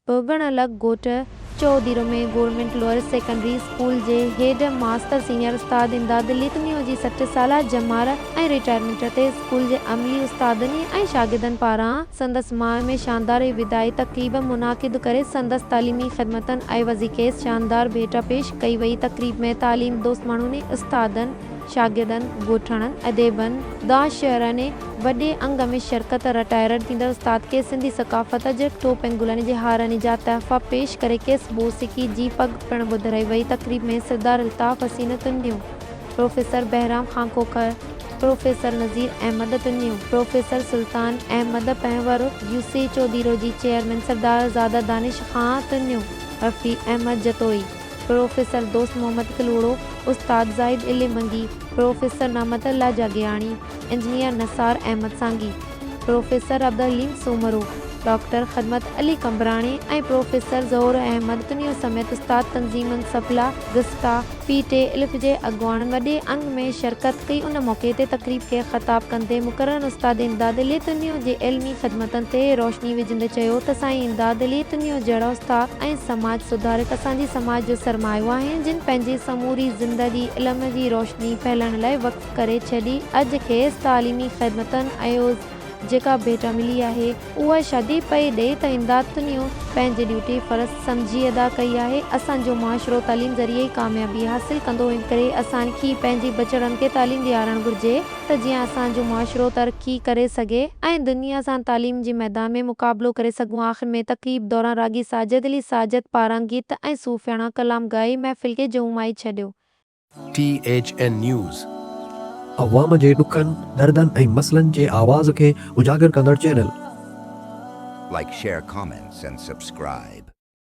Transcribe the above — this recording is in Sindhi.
ڀوڳڻ لڳ ڳوٺ Chohdiro ۾ government lower secondary school جي هيڊ ماستر سينيئر استاد امداد لکنيو جي سٺ سالا ڄمار ۽ رٽائرمينٽ تي اسڪول جي عملي استادن ۽ شاگردن پاران سندس ماء ۾ شاندار وداعي تقريب منعقد ڪري سندس تعليمي خدمتن عيوضي کيس شاندار ڀيٽا پيش ڪئي وئي تقريب ۾ تعليم دوست ماڻهن استادن شاگردن، ڳوٺاڻن، اديبن، دانش شعر ۽ وڏي انگ ۾ شرڪت، رٽائرڊ ٿيندڙ استاد کيس سنڌي ثقافت جي ٽوپ ۽ گلن جي هارن جا تحفا پيش ڪري کيس موسيقي جي پڳ پڻ ٻڌرائي وئي تقريب ۾ Sardar Altaf Hussain Tunio, professor Bahram Khan Khokhar, professor Nazir Ahmed Tunio, professor Sultan Ahmed Panhwar, U C Chaudhiro جي چيئرمين سردار زاده دانش خان تنيو، رفيع احمد جتوئي. پروفيسر دوست محمد ڪلهوڙو، استاد زاهد علي منگي، پروفيسر نعمت الله Jagiani, engineer Nisar Ahmed Sangi, professor Abdul Haleem Soomro, doctor Khidmat Ali Qambrani ۽ professor Zahoor Ahmed Tunio سميت استاد تنظيمن سفلا، گسٽا، پي ٽي الف جي اڳواڻن وڏي انگ ۾ شرڪت ڪئي ان موقعي تي تقريب کي خطاب ڪندي مقرر استاد امداد علي تنيو جي علمي خدمتن تي روشني وجهندي چيو ته سائين امداد علي تنيو جهڙا استاد ۽ سماج سڌارڪ اسان جي سماج جو سرمايو آهن جن پنهنجي سموري زندگي علم جي روشني ڦهلائڻ لاء وقف ڪري ڇڏي اڄ کيس تعليمي خدمتن عيوض جيڪا ڀيٽا ملي آهي اها شادي پئي ڏئي ته امداد تنيو پنهنجي ڊيوٽي فرض سمجهي ادا ڪئي آهي اسان جو معاشرو تعليم ذريعي ئي ڪاميابي حاصل ڪندو انڪري اسان کي پنهنجي ٻچڙن کي تعليم ڏيارڻ گهرجي. ته جيئن اسان جو معاشرو ترقي ڪري سگهي ۽ دنيا سان تعليم جي ميدان ۾ مقابلو ڪري سگهون آخر ۾ تقريب دوران راڳي ساجد علي ساجد پاران گيت ۽ صوفياڻا ڪلام ڳائي محفل کي جهومائي ڇڏيو. T H N news. عوام جي ڏکن، دردن ۽ مسئلن جي آواز کي اجاگر ڪندڙ channel. Like share comments and subscribe.